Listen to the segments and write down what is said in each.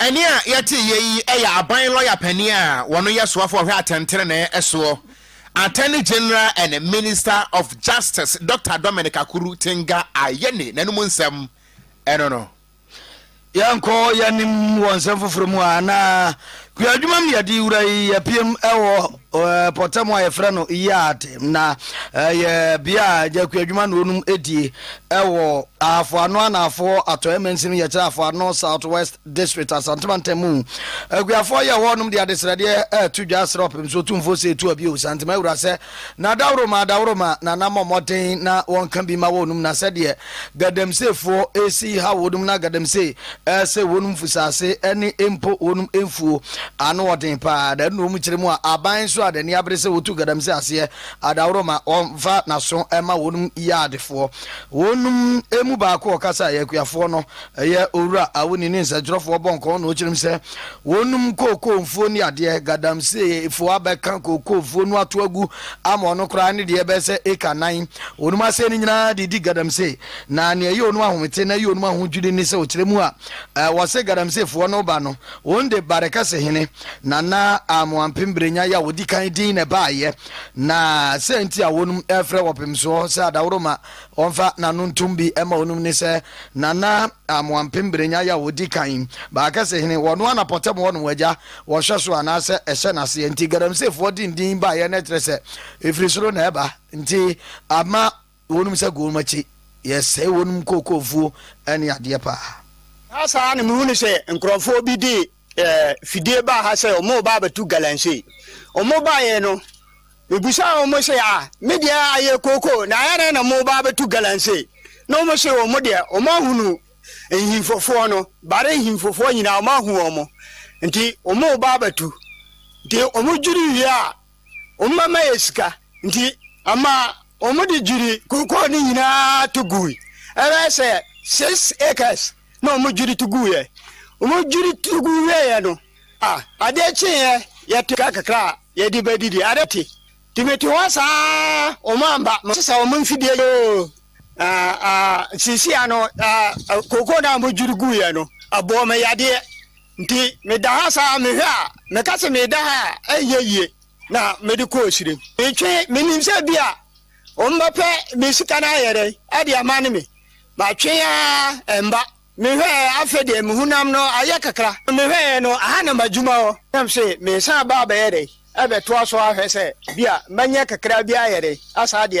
Ɛnne a yɛteeɛ yi yɛ aban lɔya panin a wɔno yɛ soafo a ɔhwɛ atɛntenenee soɔ, Attorney General and Minister of Justice Doctor Dominic Akuru Tenga Ayeni n'anom nsɛm no no. Yɛnkɔ yɛn anim wɔ nsɛm foforɔ mu a na kuo adwuma mu yɛde wura yi yɛpiem wɔ. Ɔpɔtam a yɛfrɛ no yard na ɛyɛ bea a gyaku adwuma na wɔnom die wɔ Ahafo Ano Anaafoɔ Atɔeɛ Mansin yɛkyerɛ Ahafo Ano South West District Asante Mantam mu. Akuafoɔ yɛ hɔnom de adesrɛdeɛ reto dwa srɛ ɔpem so tumfoɔ sɛ ɛtu abio Santema Awura sɛ na daworo ma daworo ma na na mmɔ mmɔden na wɔnka bi ma wɔnom na sɛdeɛ Gadamseefoɔ resi ha wɔnom na Gadamsee ɛsɛ wɔnom fusaase ɛne mpo wɔnom mfuo ano ɔden paa na ɛno na wɔn kyerɛ mu a aban nso a n'ani abere sɛ wɔtu Gadamsee aseɛ adaworo ma ɔmfa n'aso ɛma wɔnom yaadefoɔ wɔnom mu baako ɔkasaeɛ akuafoɔ no Ɛyɛ Owura Awuni ne nsɛnkyerɛfoɔ bɔ nkɔɔ na ɔkyerɛm sɛ wɔnum kookoo mfuo ne adeɛ, Gadamsee foɔ abɛka kookoo mfuo no ato agu ama ɔno koraa ne deɛ ɛbɛyɛ sɛ acre nnan. Wɔnum asee no nyinaa de redi Gadamsee, na nea ɛyɛ wɔnum ahomete na ɛyɛ wɔnum ahodwiri ne sɛ ɔkyerɛ mu a wɔse Gadamsee foɔ no ba no, wɔn de Barekɛse hene, Nana Amoah Mpemberenya, yɛ a ɔdi kan din na ɛbaeɛ, na sɛ nti a wɔnum frɛ Ɔpemsoɔ sɛ Adaworoma Ɔmfa n'ano ntom bi ma onom ne sɛ, Nana Amoampem Berenya a odi kan yi, Baakɛse hene, wɔno ara na Pɔtam hɔ no wɔagya, wɔhwɛ so anaasɛ ɛhyɛ n'aseɛ nti Galamseyfoɔ de ndin baeɛ na ɛkyerɛ sɛ ɛfiri soro na ɛba nti ama wɔnom sɛ gonom akyi yɛsɛe wɔnom kookoofuo ne adeɛ paa. Saa saa ara na mehunuu sɛ nkurɔfoɔ bi de ɛɛ fidie baa ha sɛ wɔn reba abɛto galamsey wɔn baeɛ no mebusaa wɔn sɛ a me deɛ ayɛ kooko na ayɛ dɛn na wɔn reba abɛto galamsey na wɔn se wɔn deɛ wɔn ahunu nhimfofoɔ no bare nhimfofoɔ nyinaa wɔn ahu wɔn nti wɔn reba abɛto nti wɔn dwiri wie a. Wɔn mma mma yɛ sika nti, ama wɔde dwiri kookoo no nyinaa to gui. Ɛbɛyɛ sɛ six acres na wɔdwiri to guiɛ. Wɔdwiri to gu wieeɛ no, ah, adeɛ kyeeɛ, yɛte sika kakra a yɛde bɛdidi. Adeɛ te. Nti mete hɔ saa ara, wɔn amba. Masesa wɔn mfidie yoo. sesia no koko na mo juru gu yɛ no abo me yadeɛ nti me da ha saa me hwɛ a me ka se me da ha a ɛnyɛ yie na me de kɔ osire me twe me nim sɛ bi a wɔn bɛpɛ me sika na ayɛ dɛ ɛde ama ne me ma twe a ɛmba Mehwɛɛ, afei deɛ me honam no ayɛ kakra. Mehwɛeɛ no, aha na m'adwuma wɔ. Na mese, meresan aba abɛyɛ dɛn? Abɛtoa so ahwɛ sɛ bi a manya kakra bi ayɛ dɛn, asan de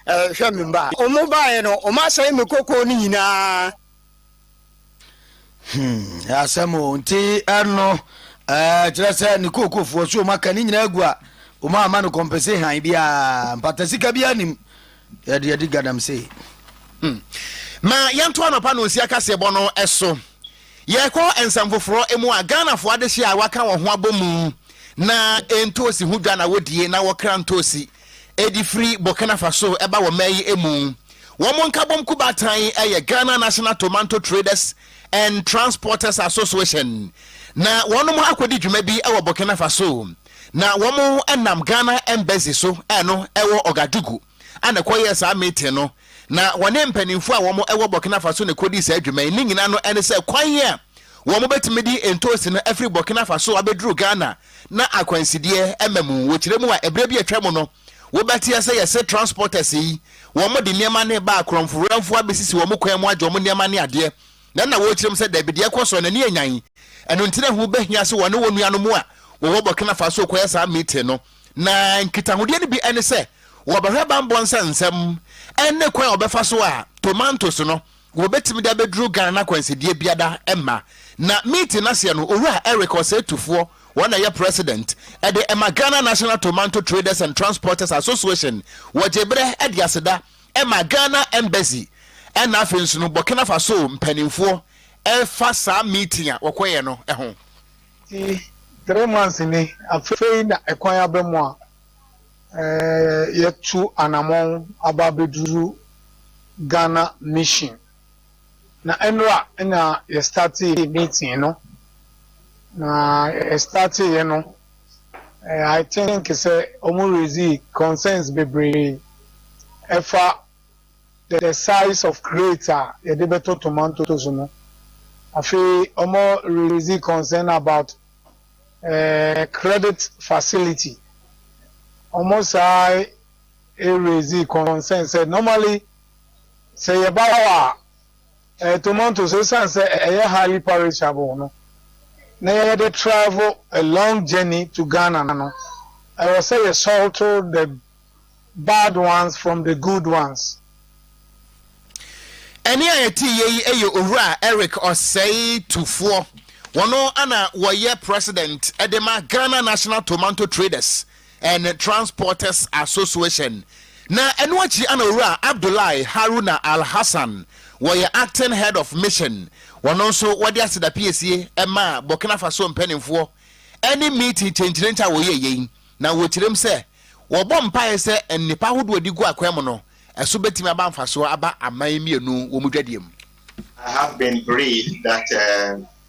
ahwɛ me mma. Wɔbaeɛ no, wɔasɛe me kokoo no nyinaa. Hmm, asɛm o. Nti ɛno, ɛɛ, kyerɛ sɛ ne kookofoɔ so wɔaka ne nyinaa agu a, wɔamma no compensation biara, mpatasika biara nim. Yɛde yɛdi gadam sei. Hmm. Ma yɛnto anɔpa no nsia kaseɛbɔ no so. Yɛkɔ nsɛm foforɔ mu a, Ghanafoɔ adehyeɛ a wɔaka wɔn ho abɔ mu na ntoosi ho dwa na wɔdie na wɔkra ntoosi ɛdi firi Burkina Faso ɛba wɔ mmaa yi mu. Wɔn nkabom kubatan yɛ Ghana National Tomanto Traders and Transporters Association na wɔn akɔdi dwuma bi wɔ Burkina Faso. Na wɔn nam Ghana Embassy so a ɛno ɛwɔ Ouagadougou a na ɛkɔyɛɛ saa meeting no, na wɔne mpaninfoɔ a wɔn ɛwɔ Burkina Faso na ɛkɔdii saa dwuma yi. Ne nyinaa no ɛne sɛ kwan a wɔn bɛtumi de ntoosi no afiri Burkina Faso abɛduru Ghana na akwansideɛ ɛma mu. Wɔkyerɛ mu a ɛberɛ bi a atwa mu no wobɛteɛ sɛ yɛse transporters yi wɔn de nneɛma no reba a korɔmfo werɛmfoɔ abɛsisi wɔn kwan mu agye wɔn nneɛma ne adeɛ Na na wɔrekyerɛ mu sɛ, Dabi, deɛ ɛkɔ soɔ no, ani anyan. Ɛno nti na ɛho bɛhia sɛ wɔne wɔn nuanom a wɔwɔ Burkina Faso rekɔyɛ saa meeting no. Na nkitahodeɛ no bi ne sɛ, wɔbɛhwɛ bammɔ nsa nsɛm ne kwan a wɔbɛfa so a tomantose no wɔbɛtumi de abɛduru Ghana na akwansideɛ biara mma. Na meeting no aseɛ no, Owura Eric Osei-Tufoɔ, wɔn na ɛyɛ President de ma Ghana National Tomanto Traders and Transporters Association, wɔgyee berɛ de aseda. Ɛma Ghana Embassy ɛna afei nso no Burkina Faso mpaninfoɔ ɛfa saa meeting a wɔkɔyɛ no ho. Ti three months ni afei na ɛkwan aba mu a yɛtu anamɔn aba abɛduru Ghana Mission. Na ɛnora na yɛ startee meeting no, na yɛ starteeɛ no I think sɛ ɔmo raise concerns bebree ɛfa the size of crate a yɛde bɛtɔ tomatoes no. Afei ɔmo raise concern about credit facility, ɔmo san raise concern sɛ normally Sɛ yɛba hɔ a, ɛyɛ tomatoes esiane sɛ ɛyɛ highly perishable no na yɛde travel a long journey to Ghana no, ɛwɔ sɛ yɛ salto the bad ones from the good ones. Ɛne a yɛteeɛ yi yɛ Owura Eric Osei Tufoɔ, wɔn na wɔyɛ President de ma Ghana National Tomanto Traders and Transporters Association na ɛno akyi ana Owura Abdullahi Haruna Alhassan wɔyɛ Acting Head of Mission wɔno nso wɔde aseda piesie maa Burkina Faso mpaninfoɔ ɛne meeting kyenkyerent a wɔyɛ yei na wɔkyerem sɛ wɔbɔ mpaeɛ sɛ nnepa ahodoɔ a ɛde gu akwan mu no ɛso bɛtumi aba mfasoɔ aba aman mmienu wɔn dwadie mu. I have been briefed that uh,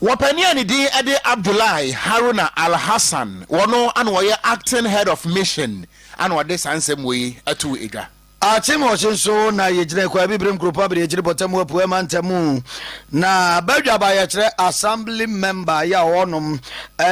Wɔpanin a ne din de Abdullahi Haruna Al-Hassan, ɔno na ɔyɛ Acting Head of Mission na ɔde saa nsɛm wei too edwa. Akyemɔkye nso na yɛgyina Kwae Abibirem Nkuropɔn Abadiakyiri Bɔtamu Apueɛ Mantamu na badwaba yɛkyerɛ Assembly Member yɛ a wɔnom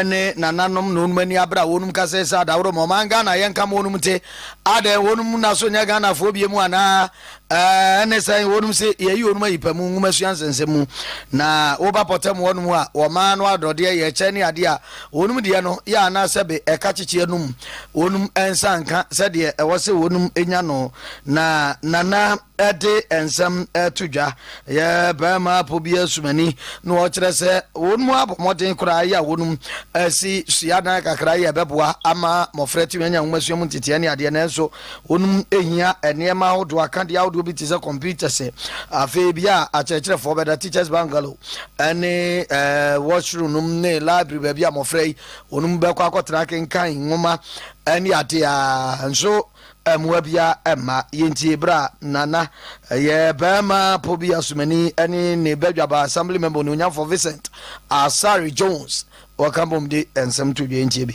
ne nananom na wɔnom ani abere a wɔnom kasa yi sɛ Adaworo ma ɔman Ghana yɛnka ma wɔnom nte adɛn wɔnom na so nyɛ Ghanafoɔ biemu anaa Ɛne sɛn? Wɔnom se Yɛayi wɔnom ayi pa mu nwomasua nsɛnsɛm mu, na woba pɔtam hɔnom a, wɔma no adɔdeɛ yɛ kyɛ ne adeɛ a wɔnom deɛ no yɛ anaa sɛbe ɛka kyekyeɛ nom wɔnom nsa nka sɛdeɛ ɛwɔ sɛ wɔnom nya no. Na Nana de nsɛm to dwa, yɛ barima apɔ bi asumani, na ɔkyerɛ sɛ wɔnom abɔ mmɔden koraa yɛ a wɔnom asi suadan kakra yɛ ɛbɛboa ama mmɔfra atumi anya nwomasua mu nteteɛ ne adeɛ, nanso Wɔnom hia nneɛma ahodoɔ, akadeɛ ahodoɔ bi te sɛ computers. Afei bia a akyerɛkyerɛfoɔ bɛda, teachers bungalow, ɛne ɛɛ washroom nom ne library baabi a mmɔfra yi wɔnom bɛkɔ akɔtena akenkan nwoma ɛne adeɛ a nso mmoa bia ɛmma. Yɛntie berɛ a Nana ɛyɛ bɛrima po bi asomani ɛne ne badwaba assembly member Onuonyamfoɔ Vincent Asare Jones wɔka bom de nsɛm to dwa. Yɛntie bi.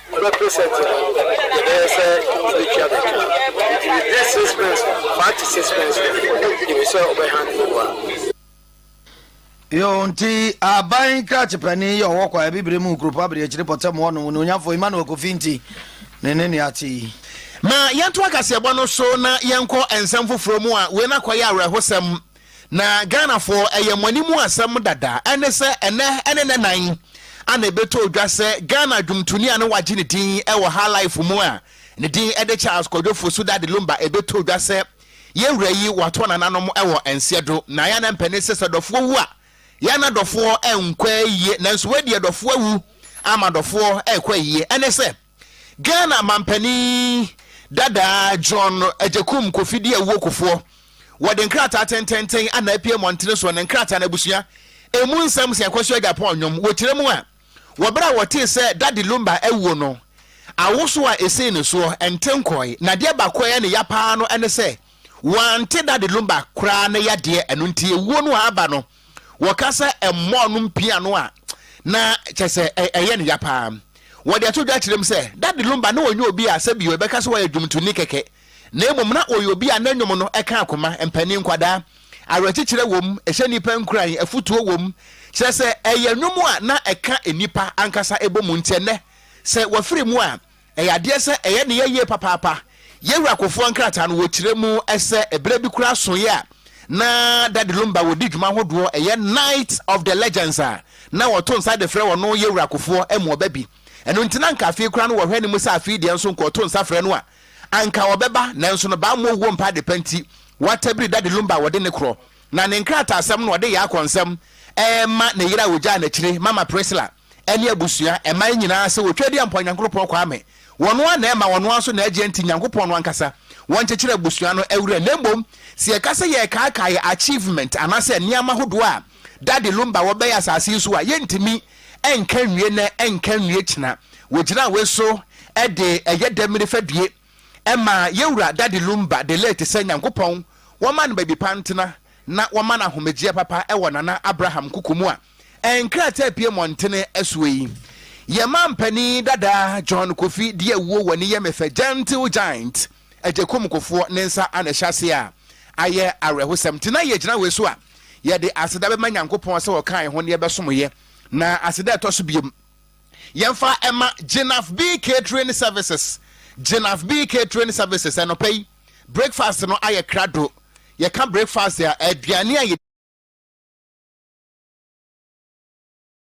Ɔbɛ present no yɛbɛyɛ sɛ ɔbɛtua me ka nti within six months no five to six months no yɛpɛ sɛ ɔbɛ hand over. Yoo nti aban krakye panin yi a ɔwɔ kwaeɛ bibire mu kuropɔn abiriakyiri pɔtam hɔ nom onuonyamfoɔ Emmanuel Kofi nti ne ne nea te yi. Ma yɛntoa kaseɛbɔ no so na yɛnkɔ nsɛm foforɔ mu a wei no akɔyɛ awerɛhosɛm Na Ghanafoɔ, ɛyɛ mo anim asɛm dada, ɛne sɛ ɛnɛ ne nnɛ nan a na ɛbɛtɔ dwa sɛ Ghana dwomtoni a na wɔagye ne din wɔ High Life mu a ne din de Charles Kwadwo Fosu Daddy Lumba ɛbɛtɔ dwa sɛ yɛn wura yi wɔato n'ananom wɔ Nseɛdo. Na yɛn ananpɛ ne sɛ sɛ dɔfoɔ wu a yɛn na dɔfoɔ nkɔ ayie nanso wei deɛ dɔfoɔ awu ama dɔfoɔ rekɔ ayie ɛne sɛ Ghana mampanin dadaa John Agyekum Kofidi Awuo Kofoɔ wɔde nkrataa tententen ana apue mmɔntene soɔ ne nkrataa no abusua ɛmu nsɛm sɛ Kwasu Agyapong nnwom wɔkyerɛ mu a wɔ berɛ a wɔtee sɛ Daddy Lumba awuo no awoso a ɛsii ne soɔ nte nkɔɔe na deɛ baako ɛyɛ ne ya paa no ɛne sɛ wɔante Daddy Lumba koraa ne yadeɛ ɛno nti awuo no a aba no Wɔka sɛ mmɔɔ no mpia no a, na kyerɛ sɛ ɛyɛ no ya paa. Wɔde ato dwa kyerɛ mu sɛ, Dade Lumba na ɔnyɛ obi a sɛbi yɛbɛka sɛ ɔyɛ dwomtoni kɛkɛ, na mmom na ɔyɛ obi a ne nnwom no ka akoma, mpanin, nkwadaa. Awerɛkyekyerɛ wom, ɛhyɛ nnipa nkuran, afotuo wom, kyerɛ sɛ, ɛyɛ nnwom a na ɛka nnipa ankasa bɔ mu. Enti ɛnnɛ, sɛ wɔfiri mu a, Ɛyɛ adeɛ sɛ ɛyɛ ne yɛ yie papaapa. Yɛ Wura Kofoa nkrataa no wɔ kyerɛ mu sɛ ɛberɛ bi koraa soeɛ a na Daddy Lumba wɔ di dwuma ahodoɔ ɛyɛ Night of the Legends a na wɔ to nsa de frɛ wɔ no Yɛ Wura Kofoɔ ɛmu ɔba bi. Ɛno nti na anka afei koraa no wɔ hwɛ ne mu sɛ afei deɛ nso nka ɔto nsa frɛ no a anka ɔbɛba nanso no bammɔ owuo mpa adepa nti watabiri Daddy Lumba ɔde ne korɔ na ne nkrataasɛm no ɔde yɛ akɔnsɛm ɛrema ne yere a ɔgyaa no akyire Mama Priscilla. ɛne abusua, ɛman nyinaa sɛ wɔtwa di ampɔn Nyankoropɔn Kwame. Wɔn ara na ɛma, wɔn ara nso na ɛgye nti Nyankopɔn no ankasa, wɔn kyekyere abusua no awura. Na mmom sɛ yɛka sɛ yɛrekaakae yɛ achievement anaasɛ nneɛma hodoɔ a Daddy Lumba wɔ bɛyɛ asase yi so a, yɛntumi nka nwie nnɛ, nka nwie kyena. Wɔgyinaa wei so de ɛyɛ dɛm ne fadue. Ɛma yɛwura Daddy Lumba de late sɛ Nyankopɔn wɔma no baabi pa ntena na wɔma no ahomegyeɛ papa wɔ Nana Abraham nkuku mu a nkrataa pue mmɔntene soɔ yi. Yɛn mampanin dada John Kofi de awuo wɔ ne yɛ me fɛ gentle giant Agyekum Kofoɔ ne nsa a na ɛhyɛ aseɛ a ayɛ awerɛhosɛm nti na yɛgyina wei so a yɛde aseda bɛma Nyankopɔn sɛ ɔkaa yɛn ho na yɛbɛsomoeɛ na aseda a ɛtɔ so biom Yɛmfa mma Jenaf B Catering Services Jenaf B Catering Services Anɔpa yi, breakfast no ayɛ krado. Yɛka breakfast a, aduane a yɛ.